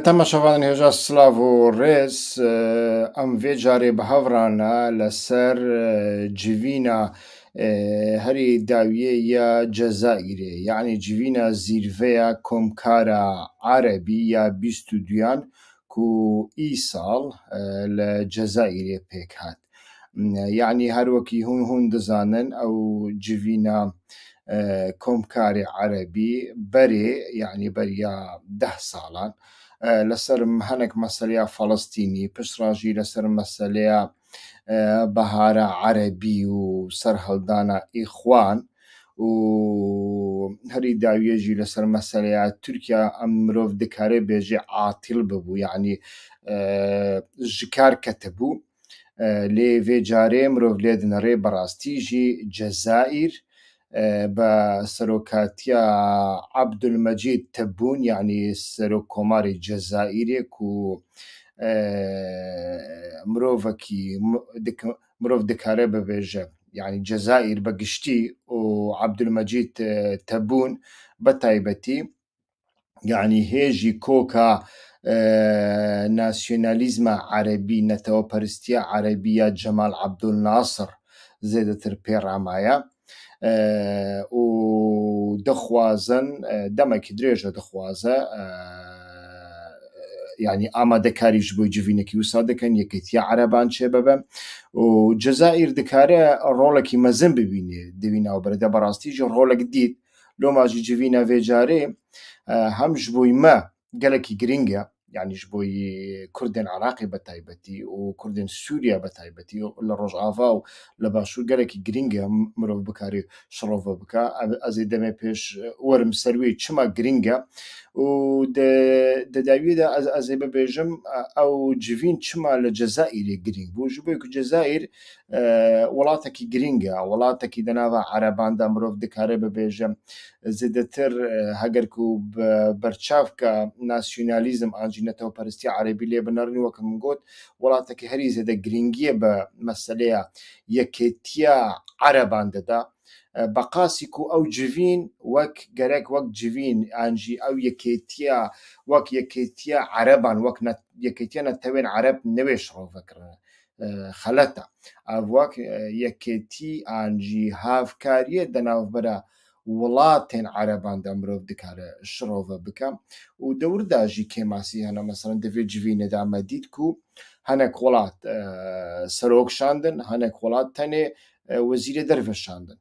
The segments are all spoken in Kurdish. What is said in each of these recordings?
Temaşevanên hêja silav û rêz em vê carê bi hev re ne li ser civîna herî dawiyê ya Cezayîrê yanî civîna zîrveya komkara Erebî ya bîst û duyan ku îsal li Cezayîrê pêk hat. Yanî her wekî hûn hûn dizanin ew civîna komkarê erebî berê yanî beriya deh salan li ser hinek meseleya felestînî piştre jî li ser meseleya bihara erebî û serhildana îxwan û herî dawiyê jî li ser meseleya tirkîya em mirov dikare bêje atîl bû yanî ji kar ketibû. Lê vê carê mirov lê dinirê bi rastî jî Cezayîr bi serokatiya Abdulmecîd Tebûn yanî Serokkomarê Cezayîrê ku mirovekî mirov dikare bibêje yanî Cezayîr bi giştî û Abdulmecîd Tebûn bi taybetî yanî hê jî koka nasyonalîzma erebî, neteweperestiya erebî ya Cemal Abdul Nasir zêdetir pê re maye û dixwazin demekî dirêj e dixwaze yanî amadekarî ji bo civînekî wisa dikin Yekîtiya Ereban çêbibe û Cezayîr dikare rolekî mezin bibîne di wî navbere de bi rastî jî rolek dît. Loma jî civîna vê carê hem ji bo me gelekî girîng e, yanî ji bo Kurdên Iraqê bi taybetî û Kurdên Sûriyeyê bi taybetî û li Rojava û li Başûr gelekî girîng e mirov bikarî şirove bike. Ez ê demê pêş werim ser wê çima girîng e û di dawiyê de ez ê bibêjim ew civîn çima li Cezayîrê girîng bû ji bo ku Cezayîr Welatekî girîng e, welatekî di nava ereban de mirov dikare bibêje zêdetir heger ku bi berçavka nasyonalîzm an jî netewperistî erebî lê binirîn wek min got welatekî herî zêde girîngiyê bi meseleya yekêtiya ereban dida. Beqasî ku ew civîn wek gerek wek civîn an jî ew yekêtiya wek yekêtiya ereban wek yekêtiya netewên ereb newê şirove kirine. xelet e. Ev wek yekêtî an jî hevkariyê di navbera welatên ereban de mirov dikare şirove bike û dewr de jî kêmasî hene. Meselan di vê civînê de me dît ku hinek welat serok şandin, hinek welat tenê wezîrê derve şandin.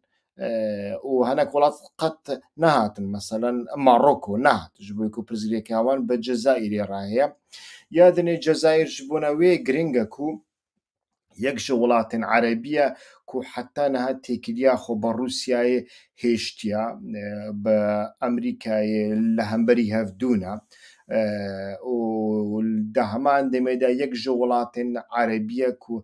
û hinek welat qet nehatin meselen Maroko nehat ji bo ku pirsgirêkê wan bi Cezayîrê re heye. Ya dinê Cezayîr ji bona wê giring e ku yek ji welatên Erebî ye ku heta niha têkiliya xwe bi Rûsyayê hêştiya, bi Amerîkayê li hemberî hev dûne û di heman demê de yek ji welatên Erebî ye ku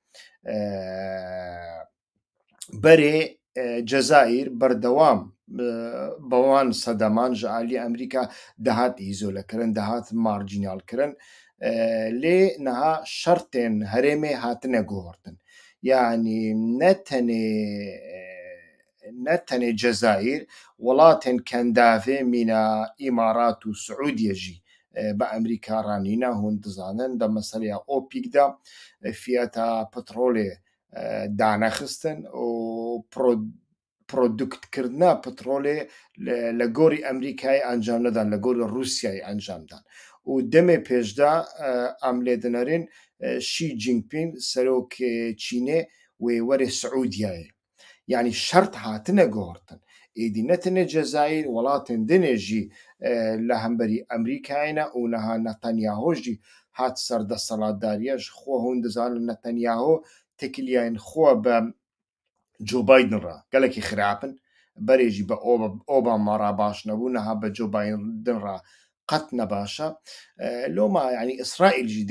berê Cezayîr berdewam bi wan sedeman ji aliyê Amerîka dihat îzolekirin, dihat marjînalkirin lê niha şertên herêmê hatine guhertin. Yanî ne tenê Ne tenê Cezayîr, welatên kendavê mîna Îmarat û Siûdiyê jî bi Amerîka re nîne. Hûn dizanin di meseleya OPEC de fiyata petrolê danexistin û produktkirina petrolê li gorî Amerîkayê encam nedan, li gorî Rûsyayê encam dan û demê pêş de em lê dinerên Xi Jinping, serokê Çînê wê were Siûdiyeyê. Yanî şert hatine guhertin. Êdî ne tenê Cezayîr, welatên din ê jî li hemberî Amerîkayê ne û niha Netanyaho jî hat ser desthilatdariya ji xwe hûn dizanin Netanyaho tekiliyayên xwe bi Joe Biden re gelekî xirab in. Berê jî bi Obama re baş nebû, niha bi Joe Biden re qet ne baş e. Loma yanî Îsraîl jî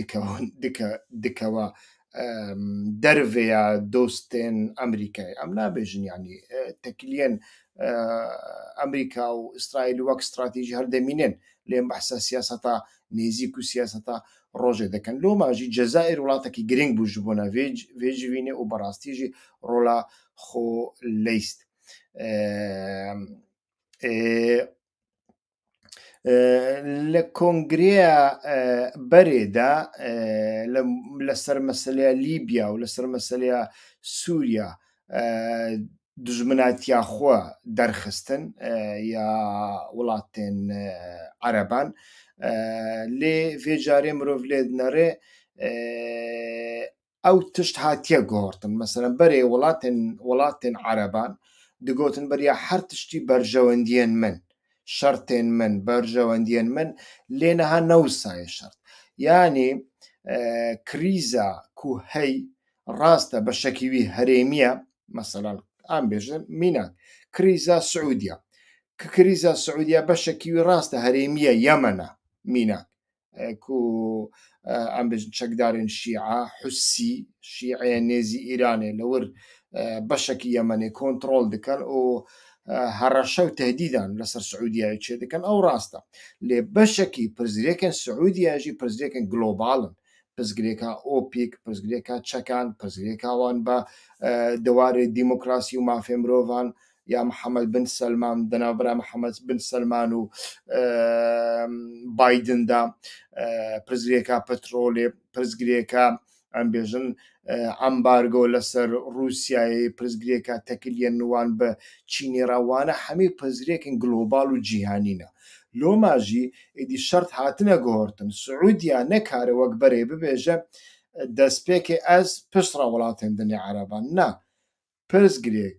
dikewa dervê ya dostên Amerîkayê. Em nabêjin yanî tekiliyên Amerîka û Îsraîlî wek stratejî hev demînin lê em behsa siyaseta nêzîk û siyaseta rojê dikin. Loma jî Cezayîr welatekî girîng bû ji bona vê civînê û bi rastî jî rola xwe leyst. Li kongreya berê de li ser meseleya Lîbya û li ser meseleya Sûriya dijminatiya xwe derxistin ya welatên ereban lê vê carê mirov lê dinêre ew tişt hatiye guhertin. Meselem berê welatên welatên ereban digotin beriya her tiştî berjewendiyên min, şertên min, berjewendiyên min lê niha ne wisa ye şert. Yanî krîza ku hey rast e beşekî wî herêmî ye. Meselem em bêjin mînak krîza Siûdîya. Krîza Siûdîya beşekî wî rast e herêmî ye Yemen e mînak. ku em bêjin çekdarên Şîa, Husî, Şîê nêzî Îranê li wir beşekî Yemenê kontrol dikin û hereşe û tehdîdan li ser Siûdiyeyê çêdikin ew rast e. Lê beşekî pirsgirêkên Siûdiyeyê jî pirsgirêkên global in. Pirsgirêka OPEC, pirsgirêka çekan, pirsgirêka wan bi di warê demokrasî û mafê mirovan ya Mihemed bin Selman di navbera Mihemed bin Selman û Biden de pirsgirêka petrolê, pirsgirêka em bêjin embargo li ser Rûsyayê, pirsgirêka tekiliyên wan bi Çînê re wane hemî pirsgirêkên global û cîhanî ne. Loma jî êdî şert hatine guhertin. Siûdiya nekare wek berê bibêje destpêkê ez piştre welatên dinê ereban ne. Pirsgirêk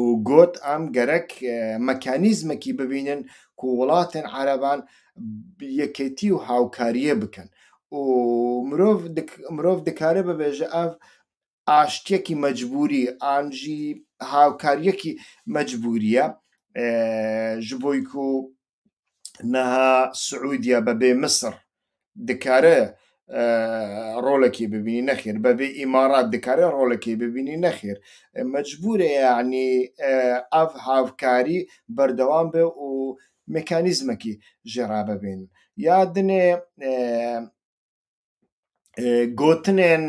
û got, Em gerek mekanîzmekî bibînin ku welatên ereban yekêtî û hawkariyê bikin û mirov mirov dikare bibêje ev aştiyekî mecbûrî an jî hawkariyekî mecbûrî ye ji bo ku niha Siûdya bebê Misir dikare rolekê bibînî nexêr, bebê Îmarat dikare rolekê bibînî nexêr. Mecbûr e yanî ev hevkarî berdewam be û mekanîzmekî jê re bibînin. Ya din e gotinên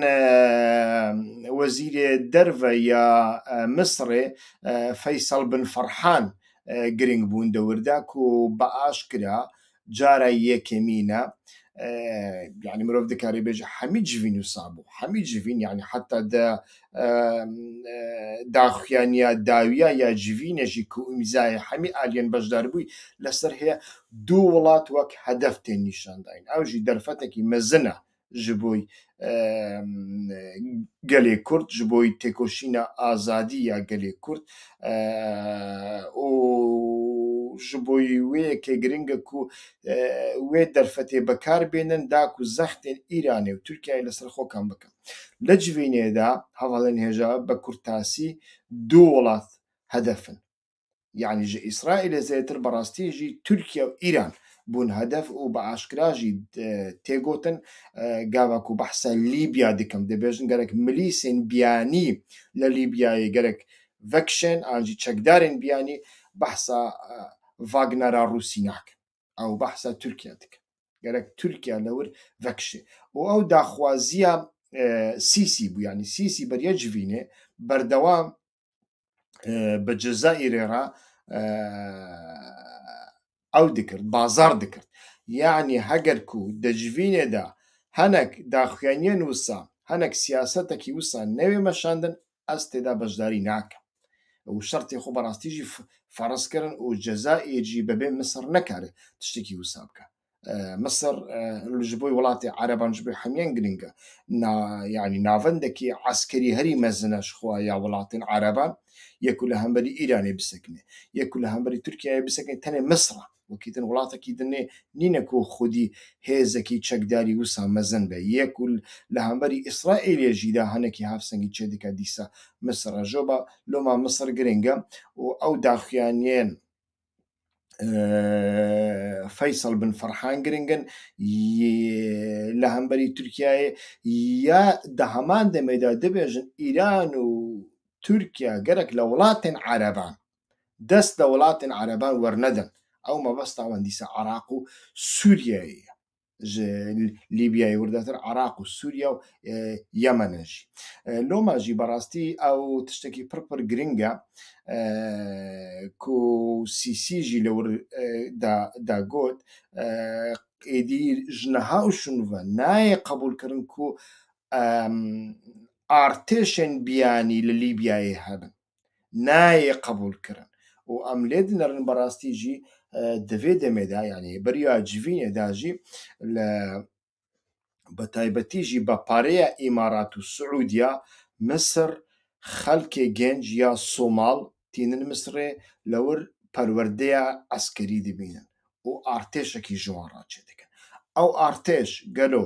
wezîrê derve ya Misirê Feysal bin Ferhan girîng bûn di wir de ku bi aşkira cara yekemîn e yanî mirov dikarî bêje hemî civîn wisa bû hemî civîn yanî heta di daxuyaniya dawiya ya civînê jî ku îmzayê hemî aliyên beşdarbûyî li ser heye du welat wek hedef tên nîşandayin ew jî derfetekî mezin e ji bo gelê kurd ji bo têkoşîna azadî ya gelê kurd û ji bo wê yekê giring e ku wê derfetê bikar bênin da ku zextên îranê û tirkiyeyê li ser xokan bikin. Li civînê de hevalên hêja bi kurtasî du welat hedef in. Yanî ji Îsraîlê zêdetir bi rastî jî Tirkiye û Îran bûn hedef û bi aşkera jî tê gotin gava ku behsa Lîbya dikim dibêjin gerek milîsên biyanî li Lîbyayê gerek vekişên an jî çekdarên biyanî behsa Wagner a Rûsî nakin. ew behsa Tirkiye dike. Gerek Tirkiye li wir vekişê. Û ew daxwaziya e, Sîsî bû. Yanî Sîsî beriya civînê berdewam e, bi Cezayirê re e, ew dikir, bazar dikir. Yanî heger ku di civînê de henek daxuyaniyen wisa, henek siyasetekî wisa newê meşandin, ez tê de beşdarî nakim û şertê xwe bi rastî jî ferz kirin û Cezayir jî bebê Misir nekare tiştekî wisa bike. Misir ji bo welatê Ereban ji bo hemîyan giring e. Na yanî navendekî eskerî herî mezin e ji xwe ya welatên Ereban. Yê ku li hemberî Îranê bisekinê, yê ku li hemberî Tirkiyeyê bisekinê tenê Misir e. Wekî din welatekî din nê, nîne ku xwedî hêzekî çekdarî wisa mezin be. Yê ku li hemberî Îsraîlê jî de hinekî hevsengî çêdike dîsa Misir re. Joba loma Misir girîng e û ew daxuyaniyên Feysal bin Ferhan girîng in li hemberî Tirkiyeyê ya di heman demê de dibêjin Îran û Tirkiye gerek li welatên ereban dest li welatên ereban wernedin. Ew mebesta wan dîsa Iraq û Sûriyeyê ye. Ji Lîbyayê wirdetir Iraq û Sûriye û Yemen in jî. Loma jî berastî ew tiştekî pir pir girîng e ku Sîsî jî li wir de got, êdî ji niha û şûnve nayê qebûlkirin ku artêşên biyanî li Lîbyayê hebin. nayê qebûlkirin û em lê dinerin bi rastî jî di vê demê de yanî beriya civînê de jî li bi taybetî jî bi parêya Îmarat û Siûdîya Misir xelkê genc ya Somal tînin Misirê li wir perwerdeya eskerî dibînin û artêşekî ji wan re çêdikin. Ew artêş gelo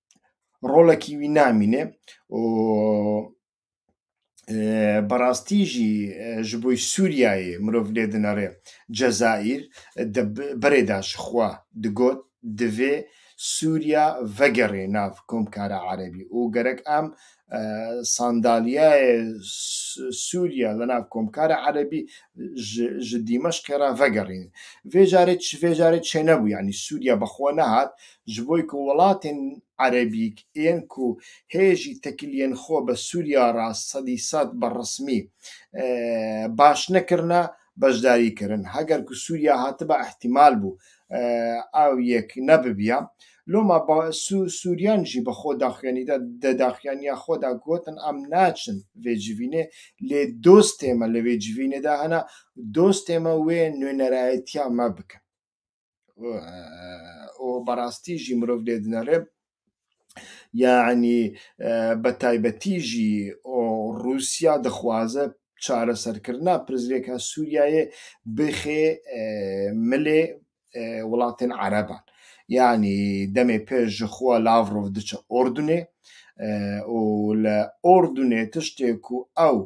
rolekî wî namîne û bi rastî jî ji bo Sûriyeyê mirov lê dinare. Cezayîr di birê de ji xwe digot divê Sûriya vegerê nav Komkara Erebî û gerek em sandaliyeyê Sûriye li nav Komkara Erebî ji Dîmeşqê re vegerîn. Vê carê vê carê çênebû yanî Sûriye bi xwe nehat ji bo ku welatên Erebî yên ku hê jî tekiliyên xwe bi Sûriye re sedî sed bi resmî baş nekirine beşdarî kirin. Heger ku Sûriya hatiba îhtîmal bû ew yek nebibiya. Loma Sûriyan jî bi xwe daxuyanîda di daxuyaniya xwe de gotin em naçin vê civînê lê dostê me li vê civînê de hene, dostê me wê nûnerayetiya me bikin. û berastî jî mirov lê dinere yanî bi taybetî jî Rûsya dixwaze çareserkirina pirsgirêka Sûriyeyê bixê milê welatên ereban. Yanî demê pêş ji xwe Lavrov diçe Urdunê û li Urdunê tiştê ku ew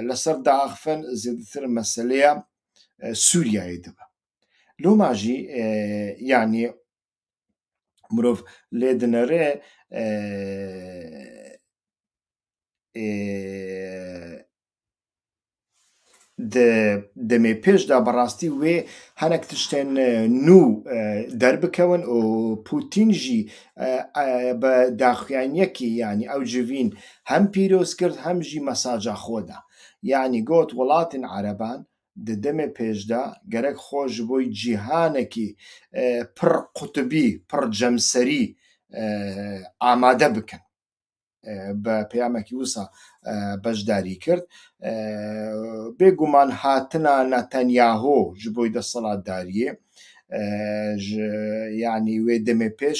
li ser diaxivin zêdetir meseleya Sûriyeyê dibe. Loma jî yanî mirov lê dinere di demê pêş de bi rastî wê hinek tiştên nû derbikewin û Pûtîn jî bi daxuyaniyekî yanî ew civîn hem pîroz kir hem jî mesaja xwe da. Yanî got welatên ereban Di demê pêş de gerek xwe ji bo cîhanekî pir qutibî, pir cemserî amade bikin. Bi peyamekî wisa beşdarî kir. Bêguman hatina Netanyahu ji bo desthilatdariyê ji yanî wê demê pêş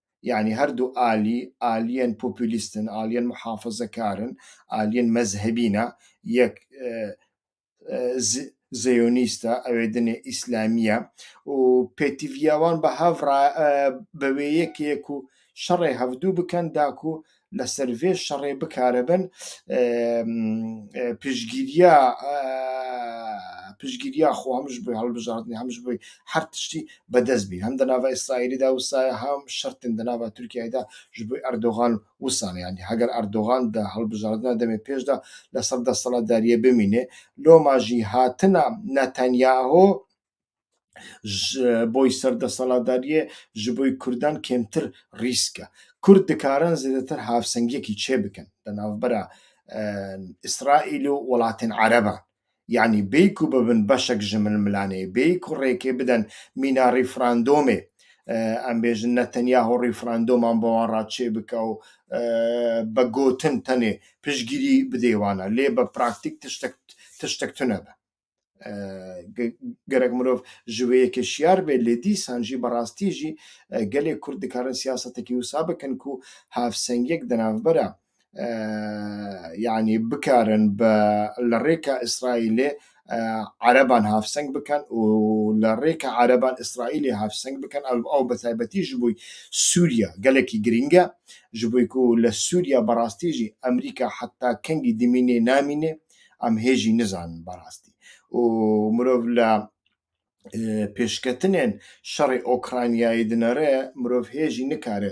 Yanî her du alî, aliyên populîst in, aliyên muhafazekar in, aliyên mezhebî ne. Yek ziyonîst e, ew ê dinê îslamî ye û pêtiviya wan bi hev re bi wê yekê ku şerê hevdû bikin da ku li ser vê şerê bikaribin piştgîriya piştgîriya xwe hem ji bo hilbijartinê hem ji bo her tiştî bi dest bînin. Hem di nava Îsraîlê de wisa ye hem şertên di nava Tirkiyeyê de ji bo Erdogan wisa ne. Yanî heger Erdogan di hilbijartina demê pêş de li ser desthilatdariyê bimîne loma jî hatina Netanyahu ji bo serdesaladariyê ji bo Kurdan kêmtir rîsk e. Kurd dikarin zêdetir hevsengiyekî çêbikin di navbera Îsraîl û welatên ereban. Yanî bêyî ku bibin beşek ji milmilanê, bêyî ku rêkê bidin mîna rîfrandomê. Em bêjin Netenyahu rîfrandoman bi wan re çêbike û bi gotin tenê piştgirî bidê wan re. Lê bi praktîk tiştek tiştek tune be. gerek mirov ji wê yekê şiyar bê lê dîsan jî bi rastî jî gelê Kurd dikarin siyasetekî wisa bikin ku hevsengiyek di navbera yanî bikarin bi li rêka Îsraîlê ereban hevseng bikin û li rêka ereban Îsraîlê hevseng bikin ew bi taybetî ji bo Sûriya gelekî girîng e ji bo ku li Sûriya bi rastî jî Amerîka heta kengî dimînê namînê. Em hê jî nizanin berastî û mirov li pêşketinên şerê Okraynayê dinere, mirov hê jî nikare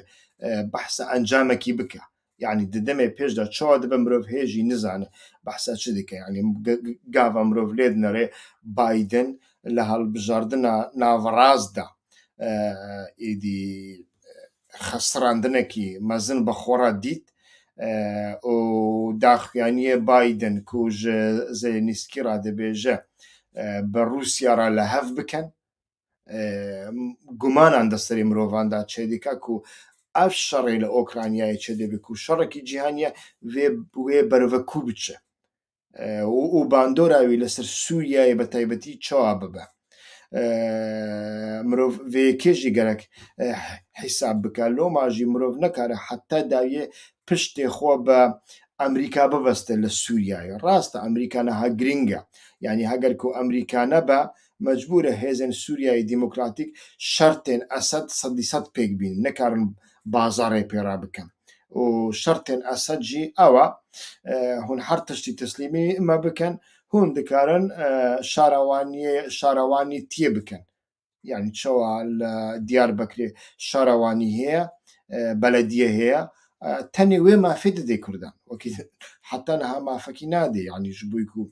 behsa encamekî bike. Yanî di demê pêş de çawa dibe mirov hê jî nizane behsa çi dike. Yanî gava mirov lê dinere Biden li hilbijardina navrast de êdî xestrandinekî mezin bi xwe re dît û daxuyaniyê Biden ku ji Zelênîskî re dibêje bi Rûsya re li hev bikin, gumanan di serê mirovan de çêdike ku ev şerê li Ûkranyayê çêdibê ku şerekî cîhanî ye, wê berive kû biçe. û bandora wî li ser Sûriyeyê bi taybetî çawa bibe. Mirov vê yekê jî gerek hîsab bike. Loma jî mirov nikare heta dawiyê piştê xwe bi Amerîka bibeste li Sûriyeyê. Rast e Amerîka niha girîng e. Yanî heger ku Amerîka nebe Mecbûr e hêzên Sûriyeyê Demokratîk şertên Esed sedî sed pêk bînin, nikarin bazarê pê re bikin û şertên Esed jî ew e hûn her tiştî tislîmî me bikin, hûn dikarin şarewaniyê şarewanîtiyê bikin. Yanî çawa li Diyarbekirê şarewanî heye, belediyê heye, tenê wê mafê didê kurdan. Wekî heta niha mafekî nadê yanî ji bo ku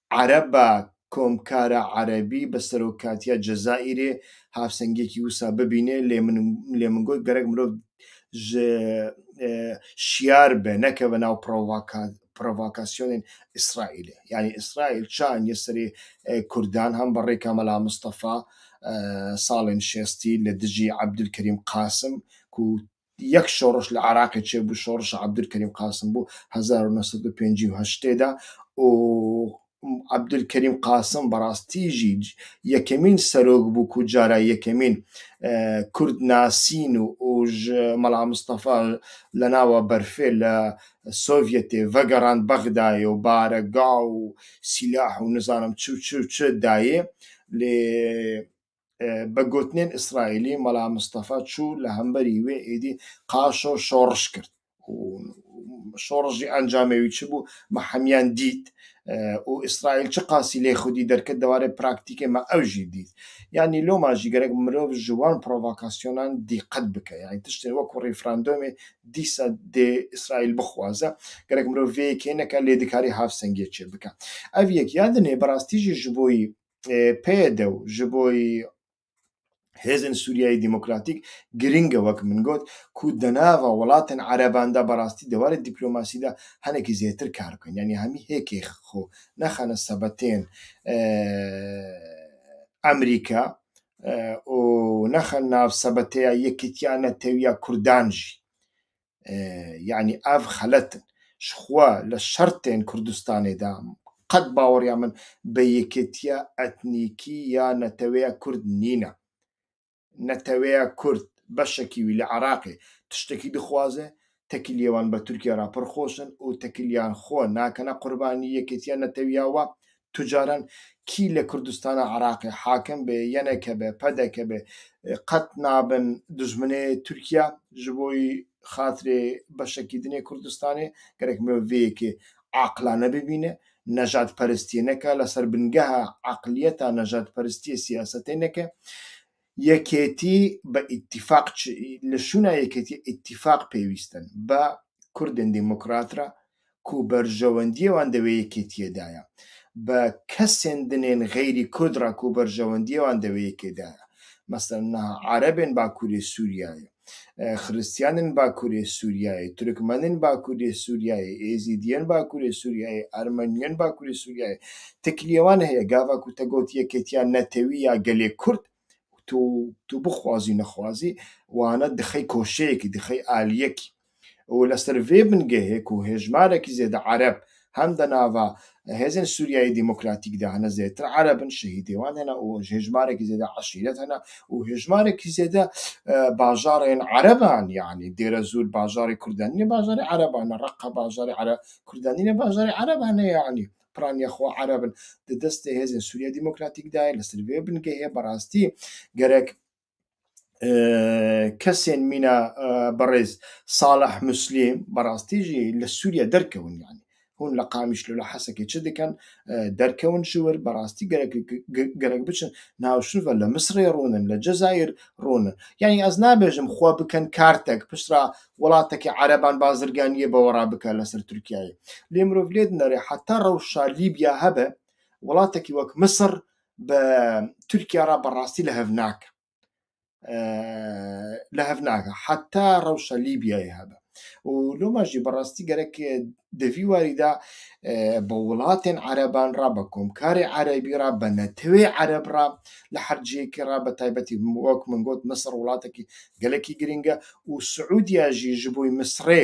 Ereba Komkara Erebî bi serokatiya Cezayîrê hevsengiyekî wisa bibîne lê lê min got gerek mirov ji şiyar be nekeve nav provakasyonên Îsraîlê. Yanî Îsraîl çi aniye serê Kurdan hem bi rêka Mela Mistefa salên şestî li dijî Ebdulkerîm Qasim ku Yek şoriş li Iraqê çêbû, şorişa Abdulkerîm Qasim bû hezar û neh sed û pêncî û heştê de û Abdulkerîm Qasim bi rastî jî yekemîn serok bû ku cara yekemîn kurd nasîn û ji Mela Mistefa li nava berfê li Sovyetê vegerand Bexdayê û baregav û sîlah û nizanim çi û çi û çi dayê lê Bi gotinên Îsraîlî, mala Mistefa çû li hemberî wê êdî qaşo şoriş kir û şoriş jî encamê wî çi bû me hemiyan dît û Îsraîl çiqasî lê xwedî derket di warê praktîkê me ew jî dît. Yanî loma jî gerek mirov ji wan provokasyonan dîqet bike. Yanî tiştên wekû rîfrandomê dîsa dê Îsraîl bixwaze. Gerek mirov vê yekê neke lê dikarî havsengiyê çêbike. Ev yek ya din ê bi rastî jî ji bo yî PYD û ji bo hêzên Sûriyeyê Demokratîk girîng e wek min got ku di nava welatên ereban de bi rastî di warê dîplomasî de hinekî zêtir kar bikin yanî hemî hêkê xwe nexine sebetên Amerîka û nexin nav sebeteya Yekîtiya Netewiya Kurdan jî. yanî ev xelet in. Ji xwe li şertên Kurdistanê de qet baweriya min bi yekêtiya etnîkî ya neteweya Kurd nîne. Neteweya Kurd beşekî wî li Iraqê tiştekî dixwaze, tekîliyê wan bi Tirkiye re pir xweş in û tekîliyan xwe nakine qurbanî yekêtiya netewiya we. tu caran kî li Kurdistana Iraqê hakim bê, YNK be, PDK be qet nabin dijminê Tirkiya ji bo xatirê beşekîdinê Kurdistanê. Gerek mirov vê yekê aqilane bibîne, nejadperestiyê neke, li ser bingeha eqiliyeta nejadperestiyê siyasetê neke. Yekêtî bi îtîfaq Li şûna yekêtî îtîfaq pêwîst in bi kurdên demokrat re ku berjewendiyê wan di wê yekêtiyê de ye. Bi kesên dinên xeyrî kurd re ku berjewendiyê wan di wê yekê de ye. Meselan niha erebên bakurê Sûriyeyê. Xristiyanên Bakurê Sûriyeyê, Tirkmenên Bakurê Sûriyeyê, Êzîdiyên Bakurê Sûriyeyê, Ermeniyên Bakurê Sûriyeyê, tekliyê wan heye gava ku te got Yekêtiya Netewî ya Gelê Kurd û tu bixwazî nexwazî wana dixey koşeyekî, dixey aliyekî. û li ser vê bingehê ku hêjmarekî zêde Ereb hem di nava Hêzên Sûriyeyê Demokratîk de hene zêdetir Ereb in, şehîdê wan hene û hêjmarekî zêde eşîret hene û hêjmarekî zêde bajarên Ereb in yanî Dêrezûr bajarê Kurd e nîne bajarê Ereb e ne Reqa bajarê Kurd e nîne bajarê Ereb e ne yanî piraniya xwe Ereb in di destê Hêzên Sûriyeyê Demokratîk de ye li ser vê bingehê bi rastî gerek kesên mîna berêz Salih Muslîm berastî jî li Sûriye derkewin yanî hûn li Qamişlo li Hesekê çi dikin derkewin ji wir berastî gerek gerek biçin navşiva li Misirê rûnin li Cezayir rûnin yanî ez nabêjim xwe bikin kartek piştra welatekî ereban bazirganiyê bawera bike li ser Tirkiyeyê lê mirov lê dinêre heta rewşa Lîbya hebe welatekî wek Misir bi Tirkiye re bi rastî li hev nake. Li hev nake heta rewşa Lîbyayê hebe. û loma jî bi rastî gerek di vî warî de bi welatên ereban re bi komkarê erebî re bi netewê ereb re li her cihekî re bi taybetî wek min got Misir welatekî gelekî girîng e û Siûdiya jî ji bo Misirê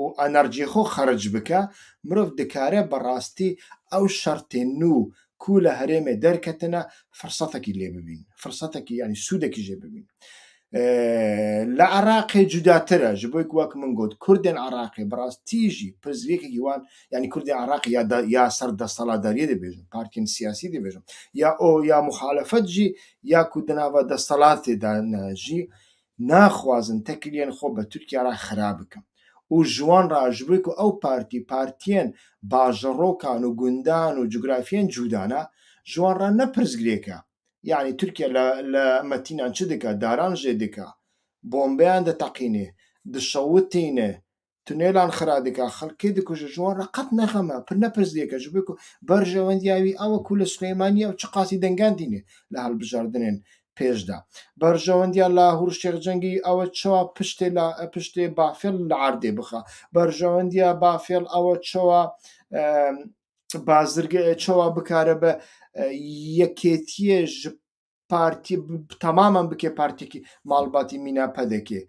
û enerjiyê xwe xeric bike, mirov dikare bi rastî ew şertên nû ku li herêmê derketine firsetekî lê bibîn, firsetekî yanî sûdekî jê bibîn. Li Iraqê cudatir e, ji bo ku wek min got kurdên Iraqê bi rastî jî pirsgirêkekî wan yanî kurdên Iraqê ya ya ser destaladariyê dibêjin, partiyên siyasî dibêjin ya o ya muxalefet jî ya ku di nava destelatê de ne jî Naxwazin tekliyên xwe bi Tirkiye re xira bikin û ji wan re ji bo ku ew partî partiyên bajarokan û gundan û cografiyên cûda ne, ji wan re ne pirsgirêk e. Yanî Tirkiye li Metînan çi dike? Daran jê dike, bombeyan diteqînê, dişewitîne, Tunêlan xira dike, xelkê dikuje, ji wan re qet nexeme, pir ne pirsgêk e, ji bo ku berjewendiya wî ew e ku li Silêmaniyê ew çi qasî dengan tîne li hilbijartinên pêş de. Berjewendiya Lahûr Şêx Cengî ew e çawa piştê piştê Bafêl li erdê bixe. Berjewendiya Bafêl ew e çawa bazirge çawa bikare be yekêtiyê ji partî temamen bike partîkî malbatî mîna pedekê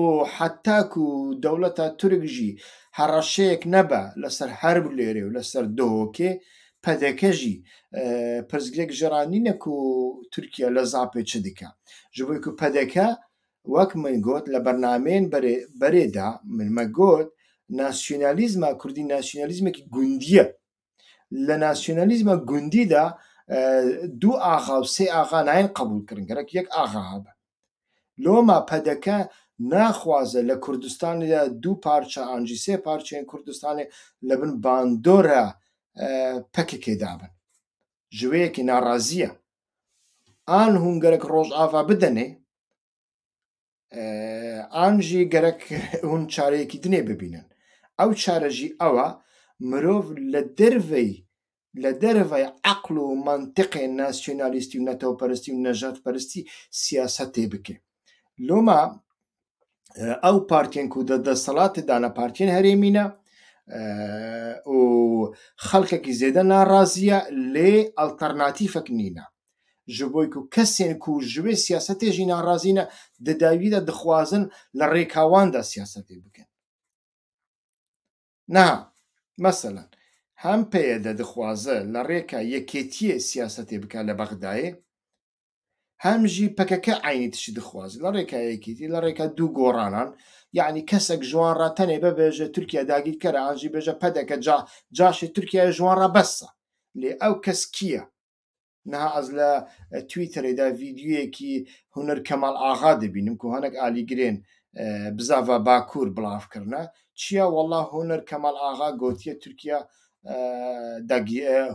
û heta ku dewleta Turk jî hereşeyek nebe li ser her bulêrê û li ser dohokê pdk jî pirsgirêk ji ra nîne ku Tirkiye li Zapê çi dike. Ji bo ku pdk wek min got li bernameyên berê de min me got nasyonalîzma kurdî nasyonalîzmekî gundî ye. Li nasyonalîzma gundî de du axa û sê axa nayên qebûlkirin, gerek yek axa hebe. Loma pdk naxwaze li Kurdistanê de du parça an jî sê parçeyên Kurdistanê li bin bandora PKK'ê de bin. Ji wê yekê narazî ye. An hûn gerek Rojava bidinê an jî gerek hûn çareyekî dinê bibînin. Ew çare jî ew e mirov li derveyî li derveyî eql û mentiqê nasyonalîstî û netewperistî û nejatperistî siyasetê bike. Loma ew partiyên ku di desthilatê de ne partiyên herêmî ne û xelkekî zêde narazî ye lê alternatîfek nîne. Ji bo ku kesên ku ji wê siyasetê jî narazî ne, di dawî de dixwazin li rêka wan de siyasetê bikin. Niha, meselan, hem PYD dixwaze li rêka yekêtiyê siyasetê bike li Bexdayê, hem jî pkk eynî tiştî dixwaze. Li rêka yekêtiyê, li rêka dû goranan, yanî kesek ji wan re tenê bibêje Tirkiye dagîrker e, an jî bêje PDK ca caşê Tirkiyeyê ji wan re bes e. Lê ew kes kî ye? Niha ez li Twitterê de vîdyoyekî Huner Kemal Axa dibînim ku hinek alîgirên bi zava Bakur bilav kirine. Çiya wela Huner Kemal Axa gotiye Tirkiya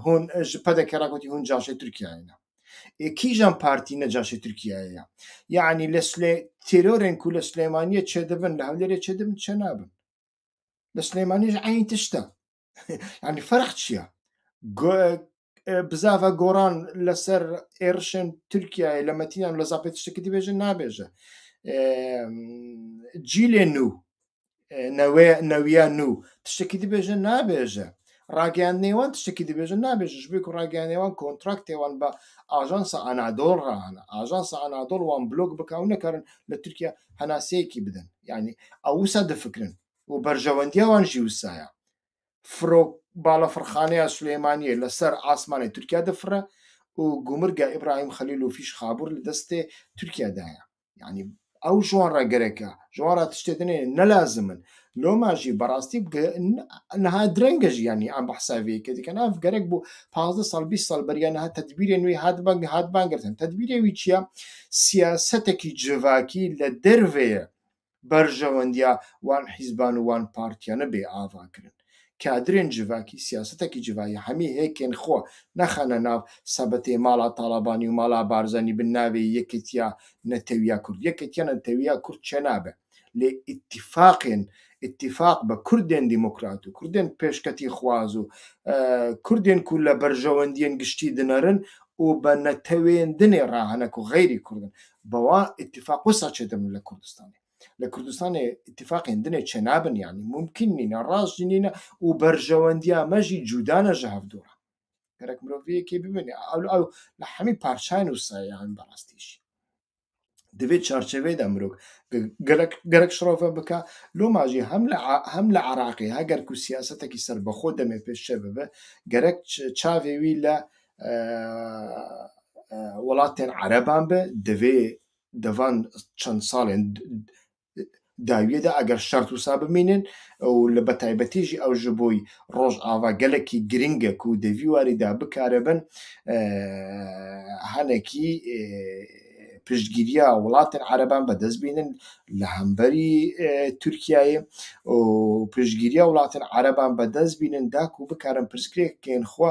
hûn ji PDK re gotî hûn caşê Tirkiyeyê ne. Ê kîjan partî ne caşê Tirkiyeyê ye? Yanî li Silê têrorên ku li Silêmaniyê çêdibin li Hewlêrê çêdibin çênabin. Li Silêmaniyê jî eynî tişt e. yani ferq çiya? Bizava goran li ser êrişên Tirkiyeyê li Metînan li Zapê tiştekî dibêje nabêje. Cîlê nû newiya nû tiştekî dibêje nabêje. Rageyandinê wan tiştekî dibêje nabêje ji ber ku rageyandinê wan kontraktê wan bi ajansa Anadol re hene. Ajansa Anadol wan blok bike û nikarin li Tirkiye henaseyekî bidin. Yani ew wisa difikirin. û berjewendiya wan jî wisa ye. Firok balafirxaneya Silêmaniyê li ser asmanê Tirkiye difire û gûmirga Îbrahîm Xelîl û Fîş Xabûr li destê Tirkiye de ye. Yanî ew ji wan re gerek e. Ji wan re tiştê din ê ne lazim in. Loma jî bi rastî niha direng e jî yanî em behsa vê yekê dikin. Ev gerek bû pazdeh sal bîst sal beriya niha tedbîrên wî hatibin girtin. Tedbîrê wî çi ye? Siyasetekî civakî li derve ye. Berjewendiya wan hîzban û wan partiyane bê ava kirin. Kadirên civakî siyasetekî civa ya hemî hêkên xwe nexene nav sebitê mala Talabanî û mala Barzanî bi navê Yekêtiya Netewiya Kurd. Yekêtiya Netewiya Kurd çênabe lê îtîfaqên îtîfaq bi Kurdên demokrat û Kurdên pêşketîxwaz û Kurdên ku li berjewendiyên giştî dinerin û bi netewên dinê re hene ku xeyrî Kurd in Bi wa îtîfaq wisa çêdibin li Kurdistanê? Li Kurdistanê îtîfaqên din ê çênabin yanî mumkîn nîne, rast jî nîne û berjewendiya me jî cuda ne ji hev dûr e. Gerek mirov vê yekê bibîne ew ew li hemî parçeyên wisa ye yanî bi rastî jî. Di vê çarçeveyê de mirov gerek gerek şirove bike. Loma jî hem li hem li Iraqê heger ku siyasetekî serbixwe demê pêşçe bibe gerek çavê wî li welatên ereban be di vê di van çend salên dawiyê de eger şert wisa bimînin û li be taybetî jî ew ji bo Rojava gelekî girîng e ku di vî warî de bikaribin hinekî piştgîriya welatên ereban bi dest bînin li hemberî Tirkiyeyê û piştgîriya welatên ereban bi dest bînin da ku bikarin pirsgirêkên xwe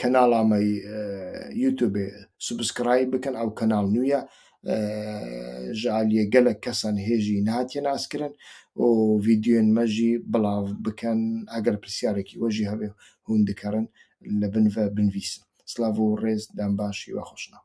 Kanala me YouTubeê subscribe bikin ew kanal nû ye ji aliyê gelek kesan hê jî nehatiye naskirin û vîdyoyên me jî bilav bikin eger pirsiyareke we jî hebe hûn dikarin li bin ve binivîsin. Silav û rêz dem baş hiwe xweşnav.